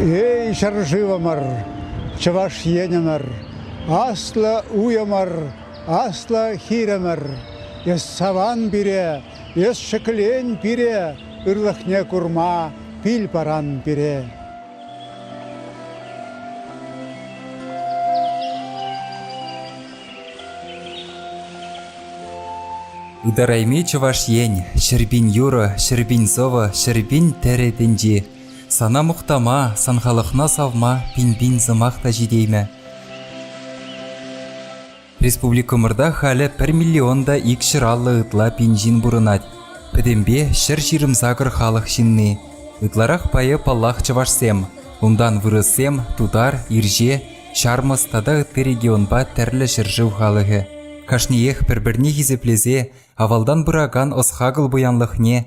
Эй, ҫӗршывӑмӑр, Чӑваш Енӗмӗр, аслӑ уйӑмӑр, аслӑ хирӗмӗр! Эс саван пире, эс ҫӗклен пире, ырлӑхне курма пил паран пире. Ытарайми Чӑваш Ен, ҫӗрпин юрӑ, ҫӗрпин сӑвӑ, ҫӗрпин тӗрӗ тӗнчи. Сана мухтама, сан халӑхна савма пин-пин сӑмах та ҫитеймӗ. Республикӑмӑрта халӗ пӗр миллион та ик ҫӑраллӑ ытла пин ҫын пурӑнать. Пӗтӗмпе ҫӗр ҫирӗм-сакӑр халӑх ҫынни. Ытларах пайӗ, паллах, чӑвашсем. Унтан вырӑссем, тутар, ирҫе, ҫармӑс тата ытти регионпа тӗрлӗ ҫӗршыв халӑхӗ. Кашниех пӗр-пӗрне хисеплесе, авалтан пыракан ӑс-хакӑл пуянлӑхне,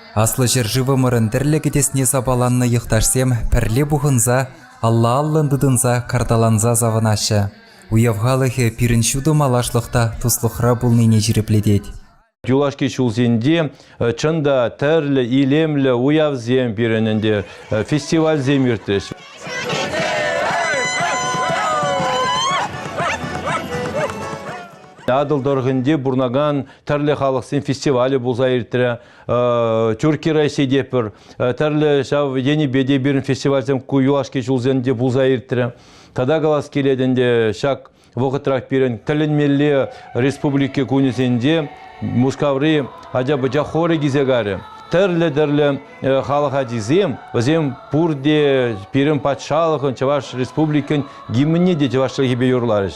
Аслӑ ҫӗршывӑмӑрӑн тӗрлӗ кӗтесне сапаланнӑ йӑхташсем пӗрле пухӑнса, алла-аллӑн тытӑнса, карталанса савӑнаҫҫӗ. Уяв халӑхӗ пирӗн ҫутӑ малашлӑх та туслӑхра пулнине ҫирӗплетет. Юлашки ҫулсенче э, чӑн та тӗрлӗ илемлӗ уявсем пирӗн ӗнтӗ э, фестивальсем иртрӗҫ. Атӑл тӑрӑхӗнче пурӑнакан тӗрлӗ халӑхсен фестивалӗ пулса иртрӗ. Тӳрки Росси тепӗр тӗрлӗ ҫав енӗпе те пирӗн фестивальсем ку юлашки ҫулсенче пулса иртрӗ. Тата калас килет ӗнтӗ ҫак вӑхӑтрах пирӗн тӗлӗнмелле республика кунӗсенче Мускаври ача-пӑча хорӗ килсе карӗ. Тӗрлӗ-тӗрлӗ э, халӑх ачисем, вӗсем пурте пирӗн патшалӑхӑн, Чӑваш Республикин гимнне те чӑваш чӗлхипе юрларӗҫ.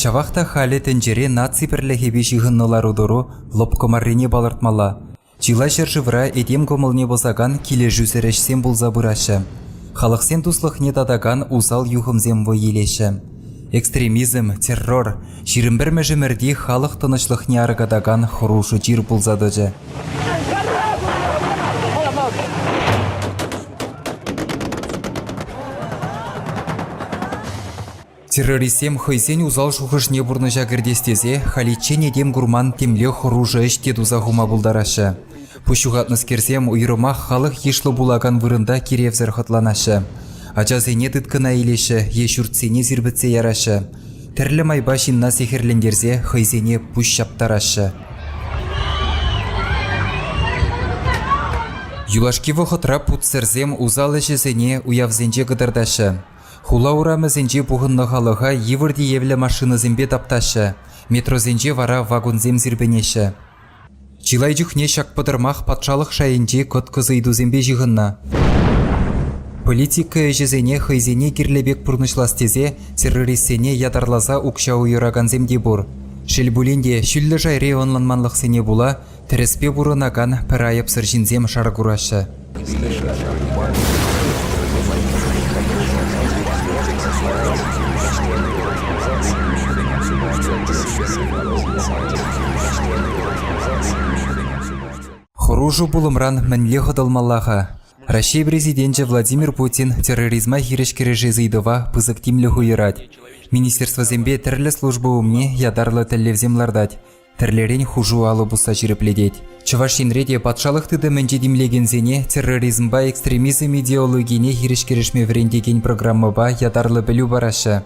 Ҫавах та халӗ тӗнчере наци пӗрлӗхӗпе ҫыхӑннӑ лару-тӑру лӑпкӑ маррине палӑртмалла. Чылай ҫӗршывра этем кӑмӑлне пӑсакан килӗшӳсӗр ӗҫсем пулса пыраҫҫӗ. Халӑхсен туслӑхне татакан усал юхӑмсем вӑй илеҫҫӗ. Экстремизм, террор ҫирӗм пӗрмӗш ӗмӗрти халӑх тӑнӑҫлӑхне аркатакан хӑрушӑ чир пулса тӑчӗ. Террористсем хӑйсен усал шухӑшне пурнӑҫа кӗртес тесе халиччен этем курман темле хӑрушӑ ӗҫ те туса хума пултараҫҫӗ. Пуҫ ҫухатнӑскерсем уйрӑмах халӑх йышлӑ пулакан вырӑнта киревсӗр хӑтланаҫҫӗ. Ачасене тыткӑна илеҫҫӗ е ҫуртсене сирпӗтсе яраҫҫӗ. Тӗрлӗ майпа ҫынна сехӗрлентерсе хӑйсене пуҫ ҫаптараҫҫӗ. Юлашки вӑхӑтра путсӗрсем усал ӗҫӗсене уявсенче кӑтартаҫҫӗ. Хула урамӗсенче пухӑннӑ халӑха йывӑр тиевлӗ машинӑсемпе таптаҫҫӗ, метросенче вара вагонсем сирпӗнеҫҫӗ. Чылай чухне ҫак пӑтӑрмах патшалӑх шайӗнчи кӑткӑс ыйтусемпе ҫыхӑннӑ. Политика ӗҫӗсене хӑйсене кирлӗ пек пурнӑҫлас тесе террористсене ятарласа укҫа уйӑракансем те пур. Шел пулин те, ҫӳллӗ шайри ӑнланманлӑхсене пула Тӗрӗспе пурӑнакан пӗр айӑпсӑр ҫынсем шар кураҫҫӗ. Хӑрушӑ пулӑмран мӗнле хӑтӑлмалла-ха? Раҫҫей Президенчӗ Владимир Путин терроризма хирӗҫ кӗрешес ыйтӑва пысӑк тимлӗх уйӑрать. Министерствӑсемпе тӗрлӗ служба умне ятарлӑ тӗллевсем лартать. Тӗрлӗрен хушу алӑ пусса ҫирӗплетет. Чӑваш Енре те патшалӑх тытӑмӗнче тимлекенсене терроризмпа экстремизм идеологине хирӗҫ-кӗрешме вӗрентекен программӑпа ятарлӑ пӗлӳ параҫҫӗ.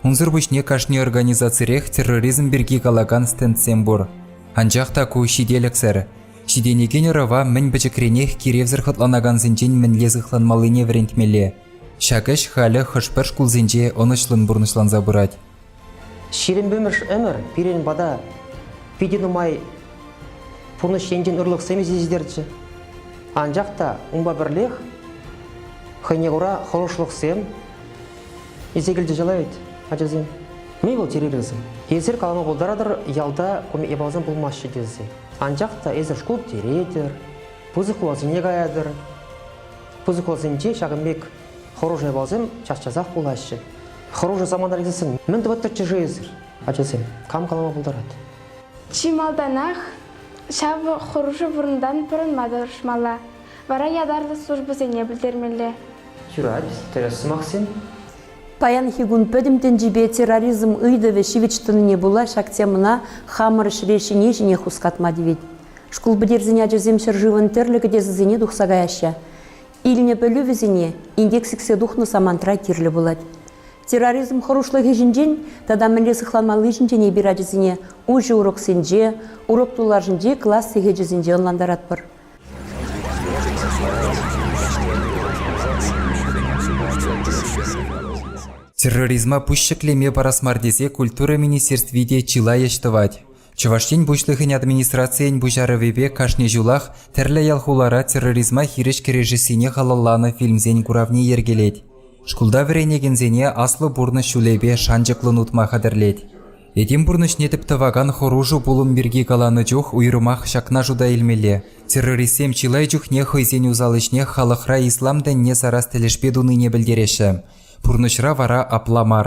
Унсӑр пуҫне кашни организацирех терроризм пирки калакан стендсем пур. Анчах та ку ҫителӗксӗр. Ҫитӗнекен ӑрӑва мӗн пӗчӗкренех киревсӗр хӑтланакансенчен мӗнле сыхланмаллине вӗрентмелле. Ҫак ӗҫ халӗ хӑш-пӗр шкулсенче ӑнӑҫлӑн пурнӑҫланса пырать. Ҫирӗм пӗмӗрш ӗмӗр пирӗн пата питӗ нумай пурнӑҫ енчен ырлӑхсем ҫитерчӗ. Анчах та унпа пӗрлех хӑйне кура хӑрушлӑхсем илсе килчӗ чылай вӗт ачасем. Мӗн вӑл чӗрересӗм? Эсир калама пултаратӑр, ялта ку япаласем пулмаҫҫӗ тесе. Анчах та эсир шкул пӗтеретӗр, пысӑк хуласене каятӑр. Пысӑк хуласенче ҫакӑн пек Хӑрушӑ япаласем час-часах пулаҫҫӗ. Хӑрушӑ самоанализсем мӗн тӑвӑттӑрччӗ-ши эсир, ачасем? Кам калама пултарать? Чи малтанах ҫав хӑрушӑ вырӑнтан пӑрӑнма тӑрӑшмалла, вара ятарлӑ службӑсене пӗлтермелле. Юрать, тӗрӗс сӑмахсем. Паянхи кун пӗтӗм тӗнчипе терроризм ыйтӑвӗ ҫивӗч тӑнине пула ҫак темӑна хамӑр ҫӗре ҫине-ҫинех хускатма тивет. Шкул пӗтерсен ачасем ҫӗршывӑн тӗрлӗ кӗтесӗсене тухса каяҫҫӗ. Илнӗ пӗлӳ вӗсене инкек сиксе тухнӑ самантра кирлӗ пулать. Терроризм хӑрушлӑхӗ ҫинчен тата мӗнле сыхланмалли ҫинчен эпир ачасене уҫӑ уроксенче, урок тулашӗнчи класс сехечӗсенче ӑнлантаратпӑр. Терроризма пуҫ ҫӗклеме парас мар тесе культура министерстви те чылай ӗҫ тӑвать. Чӑваш Ен Пуҫлӑхӗн администрацийӗн пуҫарӑвӗпе кашни ҫулах тӗрлӗ ял-хулара терроризма хирӗҫ кӗрешессине халалланӑ фильмсен куравне йӗркелет. Шкулта вӗренекенсене аслӑ пурнӑҫ ҫулӗпе шанчӑклӑн утма хатӗрлет. Этем пурнӑҫне тӗп тӑвакан хӑрушӑ пулӑм пирки каланӑ чух уйрӑмах ҫакна шута илмелле. Террористсем чылай чухне хӑйсен усал ӗҫне халӑхра ислам тӗнне сарас тӗлӗшпе тунине пӗлтереҫҫӗ. Пурнӑҫра вара апла мар.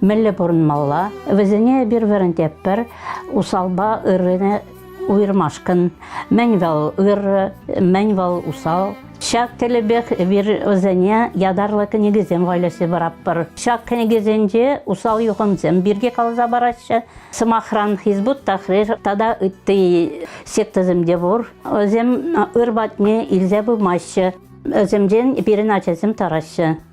мӗнле пурӑнмалла, вӗсене пӗр-пӗринпе пӗр усалпа ыррине уйӑрмашкӑн мӗн вӑл ырӑ, мӗн вӑл усал. Ҫак тӗлӗпех эпир вӗсене ятарлӑ кӗнекесем вайласа паратпӑр. Ҫак кӗнекесенче усал юхӑмсем пирки каласа параҫҫӗ. Сӑмахран, Хизбут Тахрир тата ытти сектӑсем те пур. Вӗсем ыр патне илсе пымаҫҫӗ. Вӗсемчен пирӗн ачасем тараҫҫӗ.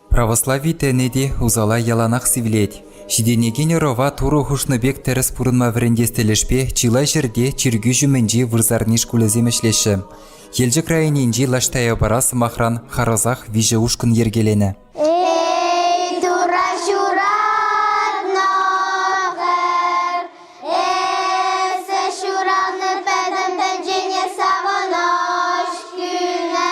Православи тӗнӗ те усала яланах сивлет. Ҫитӗнекен ӑрӑва Турӑ хушнӑ пек тӗрӗс пурӑнма вӗрентес тӗлӗшпе чылай ҫӗрте чиркӳ ҫумӗнчи вырсарни шкулӗсем ӗҫлеҫҫӗ. Елчӗк районӗнчи Лаштаяпара, сӑмахран, харӑсах виҫӗ ушкӑн йӗркеленӗ. Эй, Турра ҫуратнӑ эсӗ ҫураннӑ пӗтӗм тӗнчене савӑнӑҫ кӳнӗ.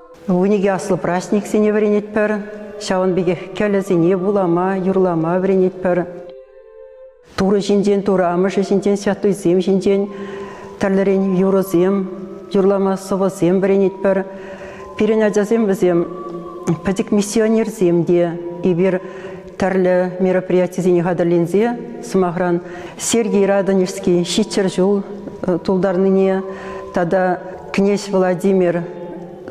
Вуникӗ аслӑ праҫниксене вӗренетпӗр, ҫавӑн пекех кӗлӗсене вулама, юрлама вӗренетпӗр. Турӑ ҫинчен, Турӑ Амӑшӗ ҫинчен, святуйсем ҫинчен тӗрлӗрен юрӑсем, юрлама сӑвӑсем вӗренетпӗр. Пирӗн ачасем вӗсем пӗчӗк миссионерсем те. Эпир Тӗрлӗ мероприятисене хатӗрленсе, сӑмахран, Сергий Радонежский ҫиччӗр ҫул э, тултарнине тата князь Владимир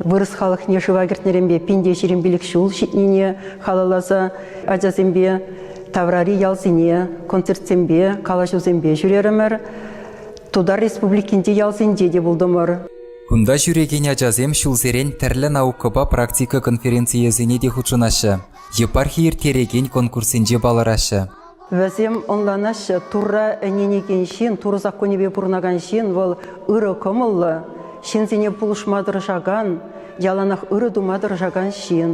вырӑс халӑхне шыва кӗртнӗренпе пинте ҫирӗм пилӗк ҫул ҫитнине халалласа ачасемпе таврари ялсене концертсемпе, калаҫусемпе ҫӳрерӗмӗр. Тутар Республикинчи ялсенче те пултӑмӑр. Кунта ҫӳрекен ачасем ҫулсерен тӗрлӗ наукӑпа практика конференцийӗсене те хутшӑнаҫҫӗ. епархи ирттерекен конкурссенче палӑраҫҫӗ. Вӗсем ӑнланаҫҫӗ, Турра ӗненекен ҫын, Турӑ саккунӗпе пурӑнакан ҫын вӑл ырӑ кӑмӑллӑ, ҫынсене пулӑшма тӑрӑшакан, яланах ырӑ тума тӑрӑшакан ҫын.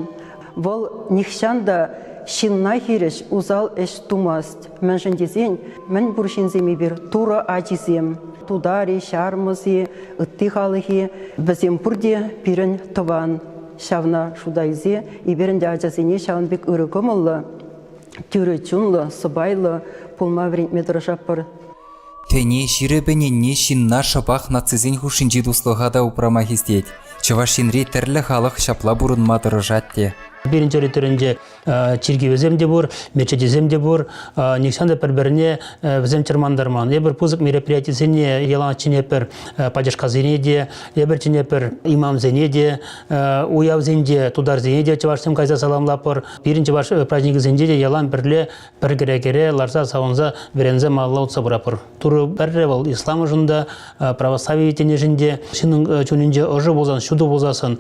Вӑл нихҫан та ҫынна хирӗҫ усал ӗҫ тумасть, мӗншӗн тесен мӗн пур ҫынсем эпир, Турӑ ачисем, тутари, ҫармӑс-и, ытти халӑх-и, вӗсем пурте пирӗн тӑван. ҫавна шута илсе эпир ӗнтӗ ачасене ҫавӑн пек ырӑ кӑмӑллӑ, тӳрӗ чунлӑ, сӑпайлӑ пулма вӗрентме тӑрӑшатпӑр. Тӗне ҫирӗп ӗненни ҫынна шӑпах нацисен хушшинчи туслӑха та упрама хистет. Чӑваш Енри тӗрлӗ халӑх ҫапла пурӑнма тӑрӑшать те. Пирӗн территоринче чиркӗвӗсем те пур, мечетӗсем те пур. Нихҫан та пӗр-пӗрне вӗсем чӑрмантарман. Эпир пысӑк мероприятисене ялан чӗнепӗр пачашкасене те, эпир чӗнепӗр имамсене те, уявсенче тутарсене те чӑвашсем кайса саламлапӑр. Пирӗн чӑваш праздникӗсенче те ялан пӗрле пӗр кӗре-кӗре ларса савӑнса вӗренсе малалла утса пыратпӑр. Турӑ пӗрре вӑл исламшӑн та, православи тӗнӗшӗн те, ҫыннӑн чунӗнче ӑшӑ пулсан, ҫутӑ пулсассӑн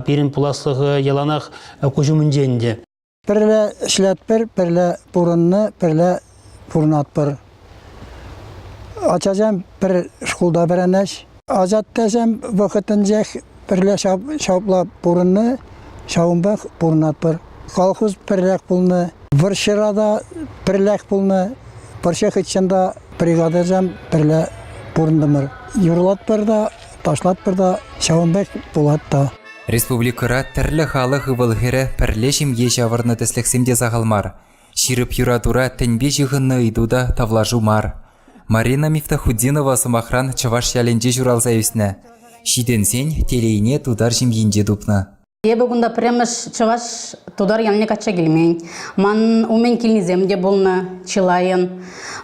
пирӗн пуласлӑхӗ яланах куҫ умӗнче ӗнтӗ. Пӗрле ӗҫлетпӗр, пӗрле пурӑннӑ, пӗрле пурӑнатпӑр. Ачасем пӗр шкулта вӗренӗҫ. Ачаттасем вӑхӑтӗнчех пӗрле ҫапла пурӑннӑ, ҫавӑнпах пурӑнатпӑр. Колхоз пӗррех пулнӑ, вӑрҫӑра та пӗрлех пулнӑ, вӑрҫӑ хыҫҫӑн та бригадӑсем пӗрле пурӑнтӑмӑр. Юрлатпӑр та ташлатпӑр та ҫавӑн пек пулать та. Республикӑра тӗрлӗ халӑх ывӑл-хӗрӗ пӗрле ҫемье ҫавӑрнӑ тӗслӗхсем те сахал мар. Ҫирӗп юратура тӗнпе ҫыхӑннӑ ыйту та тавлашу мар. Марина Мифтахутдинова сӑмахран чӑваш ялӗнче ҫуралса ӳснӗ. Ҫитӗнсен телейне тутар ҫемйинче тупнӑ. Эпӗ кунта пӗрремӗш чӑваш тутар ялне качча килмен. Ман умӗн килнисем те пулнӑ чылайӑн.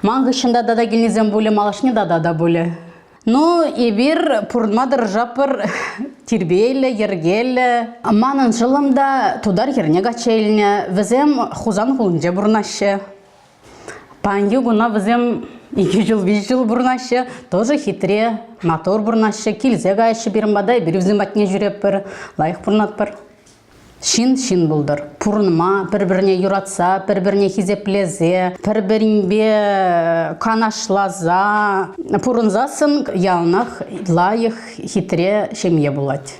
Ман хыҫҫӑн та тата килнисем пулӗ, малашне тата та пулӗ. Ну, эпир пурӑнма тӑрӑшатпӑр тирпейлӗ, йӗркеллӗ. Манӑн шӑллӑм та тутар хӗрне качча илнӗ. Вӗсем Хусан хулинче пурӑнаҫҫӗ. Паянхи куна вӗсем икӗ ҫул, виҫӗ ҫул пурӑнаҫҫӗ, тӑсӗ хитре, матур пурӑнаҫҫӗ, килсе каҫҫӗ пирӗн пата, эпир вӗсем патне ҫӳретпӗр, лайӑх пурӑнатпӑр. Ҫын ҫын пултӑр. Пурӑнма, пӗр-пӗрне юратса, пӗр-пӗрне хисеплесе, пӗр-пӗринпе канашласа пурӑнсассӑн яланах лайӑх, хитре ҫемье пулать.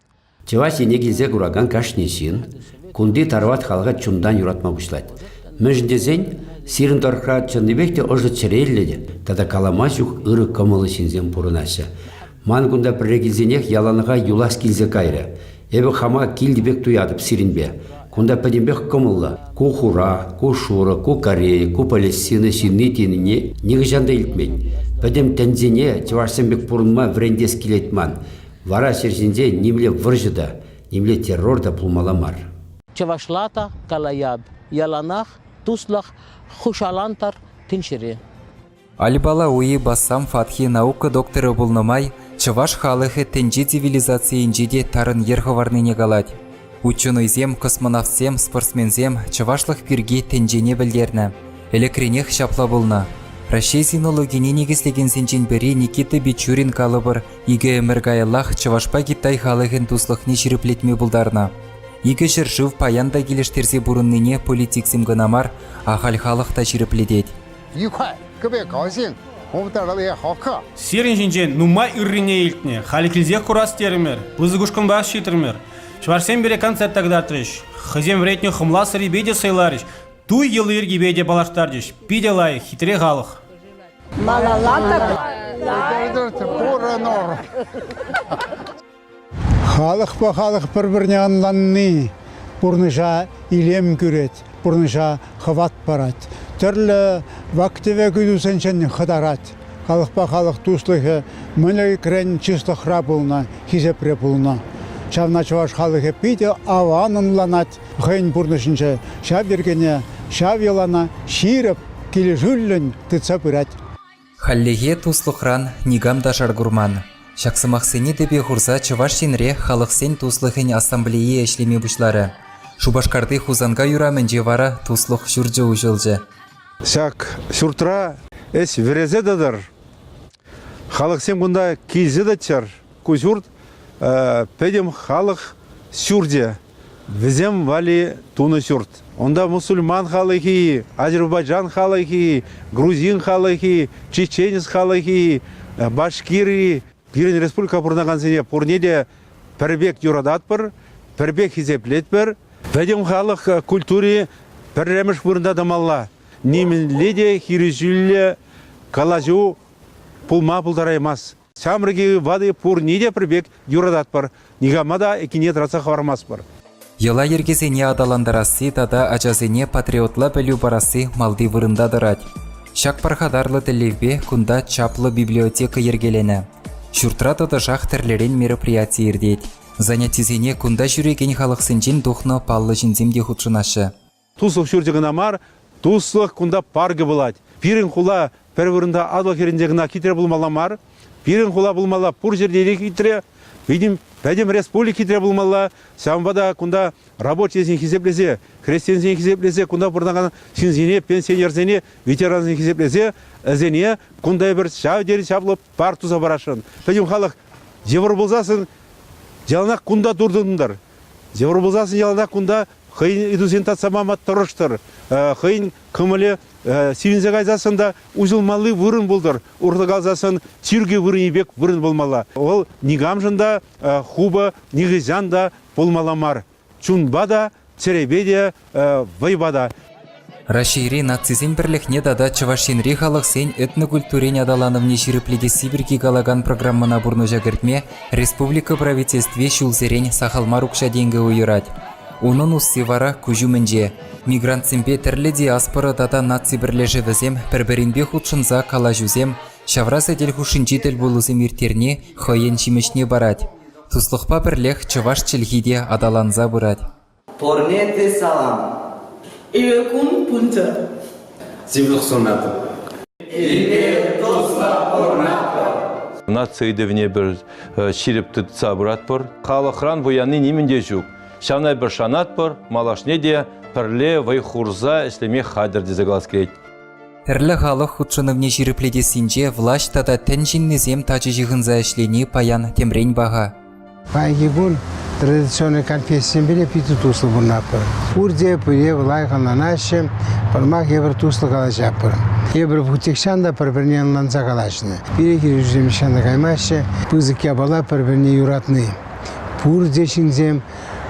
Чӑваш Ене килсе куракан кашни ҫын кунти Тарват халӑха чунтан юратма пуҫлать. Мӗншӗн тесен сирӗн тӑрӑхра чӑннипех те ӑшӑ чӗреллӗ те тата калама ҫук ырӑ кӑмӑллӑ ҫынсем пурӑнаҫҫӗ. Ман кунта пӗрре килсенех яланлӑха юлас килсе кайрӗ. Эпӗ хама килтӗ пек туятӑп сирӗнпе. Кунта пӗтӗмпех кӑмӑллӑ. Ку хура, ку шурӑ, ку корей, ку палестина ҫынни-тенине нихӑҫан та илтмен. Пӗтӗм тӗнсене чӑвашсем пек пурӑнма вӗрентес килет ман. Вара ҫӗр ҫинче нимле вӑрҫӑ та, нимле террор та пулмалла мар. Чӑвашла та калаҫап, яланах туслӑх хушалантӑр тӗнчере. Альбала Уи Бассам Фатхи наука докторӗ пулнӑ май чӑваш халӑхӗ тӗнче цивилизацийӗнче те тарӑн йӗр хӑварнине калать. Ученӑйсем, космонавтсем, спортсменсем чӑвашлӑх пирки тӗнчене пӗлтернӗ. Ӗлӗкренех ҫапла пулнӑ. Раҫҫей синологине никӗслекенсенчен пӗри Никита Бичурин калӑпӑр Икӗ ӗмӗр каяллах Чӑвашпа Китай халӑхӗн туслӑхне ҫирӗплетме пултарнӑ. Икӗ ҫӗршыв паян та килӗштерсе пурӑннине политиксем кӑна мар, ахаль халӑх та ҫирӗплетет. Икай, кӗпе калсен, хумтаралле хакка. Сирӗн ҫинчен нумай ыррине илтнӗ, халӗ килсех курас терӗмӗр, пысӑк ушкӑнпах ҫитрӗмӗр. Чӑвашсем пире концерта кӑтартрӗҫ, хӑйсем вӗретнӗ хӑмла сӑрипе те сӑйларӗҫ, туй йӑли-йӗркипе те паллаштарчӗҫ. Питӗ лайӑх, хитре халӑх. Малала та пурӑнӑр. Халӑхпа халӑх пӗр-пӗрне ӑнланни пурнӑҫа илем кӳрет, пурнӑҫа хӑват парать, тӗрлӗ вак-тӗвек ыйтусенчен хӑтарать. Халӑхпа халӑх туслӑхӗ мӗн ӗлӗкрен чыслӑхра пулнӑ, хисепре пулнӑ. Ҫавна чӑваш халӑхӗ питӗ аван ӑнланать. хӑйӗн пурнӑҫӗнче ҫав йӗркене, ҫав йӑлана ҫирӗп, килӗшӳллӗн тытса пырать. Хальлӗхе туслӑхран никам та шар курман. Ҫак сӑмахсене тӗпе хурса Чӑваш Енре халӑхсен туслӑхӗн ассамблейи ӗҫлеме пуҫларӗ. Шупашкарти Хусанкай урамӗнче вара Туслӑх ҫурчӗ уҫӑлчӗ. Ҫак ҫуртра ӗҫ вӗресе тӑтӑр. Халӑхсем кунта килсе тӑччӑр. Ку ҫурт, пӗтӗм халӑх ҫурчӗ. Вӗсем валли тунӑ ҫурт. Унта мусульман халӑхӗ, азербайджан халӑхӗ, грузин халӑхӗ, чеченец халӑхӗ, башкиры. Пирӗн республика пурӑнакансене пурне те пӗр пек юрататпӑр, пӗр пек хисеплетпӗр. Пӗтӗм халӑх культури пӗрремӗш вырӑнта тӑмалла. Нимӗнле те хирӗҫӳллӗ калаҫу пулма пултараймасть. Ҫамрӑк-и, ватӑ-и пурне те пӗр пек юрататпӑр, никама та кине тӑратса хӑвармастпӑр. Йӑла-йӗркесене аталантарасси тата ачасене патриотла пӗлӳ парасси малти вырӑнта тӑрать. Ҫак пархатарлӑ тӗллевпе кунта чаплӑ библиотека йӗркеленӗ. Ҫуртра тӑтӑшах тӗрлӗрен мероприяти иртет. Занятисене кунта ҫӳрекен халӑхсенчен тухнӑ паллӑ ҫынсем те хутшӑнаҫҫӗ. Туслӑх ҫурчӗ кӑна мар, туслӑх кунта паркӗ пулать. Пирӗн хула пӗр вырӑнта Атӑл хӗрринче кӑна хитре пулмалла мар. Пирӗн хула пулмалла пур ҫӗрте те хитре, пӗтӗм, пӗтӗм республика хитре пулмалла. Ҫавӑнпа та кунта рабочисен хисеплесе, хресченсен хисеплесе, кунта пурӑнакан ҫынсене, пенсионерсене, ветерансене хисеплесе, вӗсене кунта эпир ҫав тери чаплӑ парк туса парасшӑн. Пӗтӗм халӑх йывӑр пулсассӑн яланах кунта туртӑнтӑр. Йывӑр пулсассӑн ялта кунта хӑйӗн ыйтусене татса пама тӑрӑштӑр, хӑйӗн кӑмӑлӗ сивӗнсе кайсассӑн та уҫӑлмалли вырӑн пултӑр, урса калсассӑн чиркӳ вырӑнӗ пек вырӑн пулмалла. Вӑл никамшӑн та хупӑ, нихӑҫан та пулмалла мар. Чунпа та, чӗрепе те вӑйпа та. Раҫҫейри нацисен пӗрлӗхне тата Чӑваш Енри халӑхсен этнокультурин аталанӑвне ҫирӗплетесси пирки калакан программӑна пурнӑҫа кӗртме республика Правительстви ҫулсерен сахал мар укҫа-тенкӗ уйӑрать. Унӑн усси вара куҫ умӗнче. Мигрантсемпе тӗрлӗ диаспора тата наци пӗрлешӗвӗсем пӗр-пӗринпе хутшӑнса калаҫусем, ҫавра сӗтел хушшинчи тӗлпулусем ирттерни хӑйӗн ҫимӗҫне парать. Туслӑхпа пӗрлех чӑваш чӗлхи те аталанса пырать. Порнете салам. Элекун пунтӑ. Сывлӑх сунатӑп. Илме тосла орнатпӑр. Наци ыйтӑвне пӗр э, ҫирӗп тытса пыратпӑр. Халӑхран пуянни нимӗн те ҫук. Ҫавна пӗр шанатпӑр, малашне те пӗрле вӑй хурса ӗҫлеме хатӗр тесе калас килет. Тӗрлӗ халӑх хутшӑнӑвне ҫирӗплетессинче влаҫ тата тӗн ҫыннисем тачӑ ҫыхӑнса ӗҫлени паян темрен паха. Паянхи кун традиционный кальпестсемпе питӗ туслӑ пурӑнатпӑр. Пурте пире лайӑх ӑнланаҫҫӗ, пӑрмах эпир туслӑ калаҫатпӑр. Эпир путехчан та пӗр-пӗрне ӑнланса калаҫнӑ. Пире килӗшӳсем нихҫан та каймаҫҫӗ. Пысӑк япала пӗр-пӗрне юратни. Пурте ҫынсем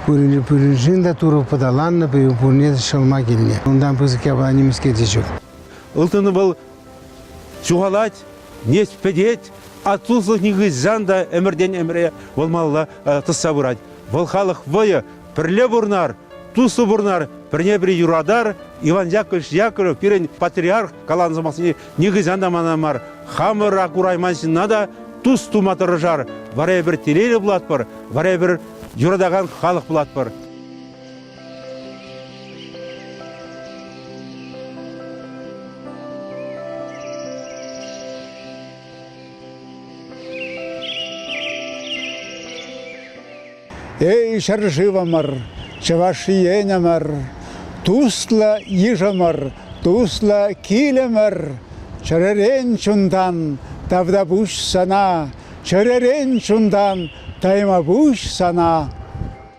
пуриншӗн те Турӑ пӑталаннӑ, пурне те ҫӑлма килнӗ. Унтан пысӑк япала нимӗҫке те ҫук. Ылтӑн вӑл Ҫухалать, нец пӗтет, от туслых нихӑҫан та ӗмӗртен-ӗмӗре вӑлмалла тӑсса пырать. Вӑл халӑх вӑйӗ пӗрле пурӑнар, туслӑ пурӑнар, пӗрне-пӗри юратар. Иван Яковлевич Яковлев пирӗн патриарх каланӑ сӑмахсене нихӑҫан та мана мар, хамӑра курайман ҫынна та тус тума тӑрӑшар. Вара эпир телейлӗ пулатпӑр, вара эпир юратакан халӑх пулатпӑр. Эй, ҫӗршывӑмӑр, Чӑваш Енӗмӗр, туслӑ йышӑмӑр, туслӑ килӗмӗр, чӗререн чунтан тавта пуҫ сана, чӗререн чунтан тайма пуҫ сана.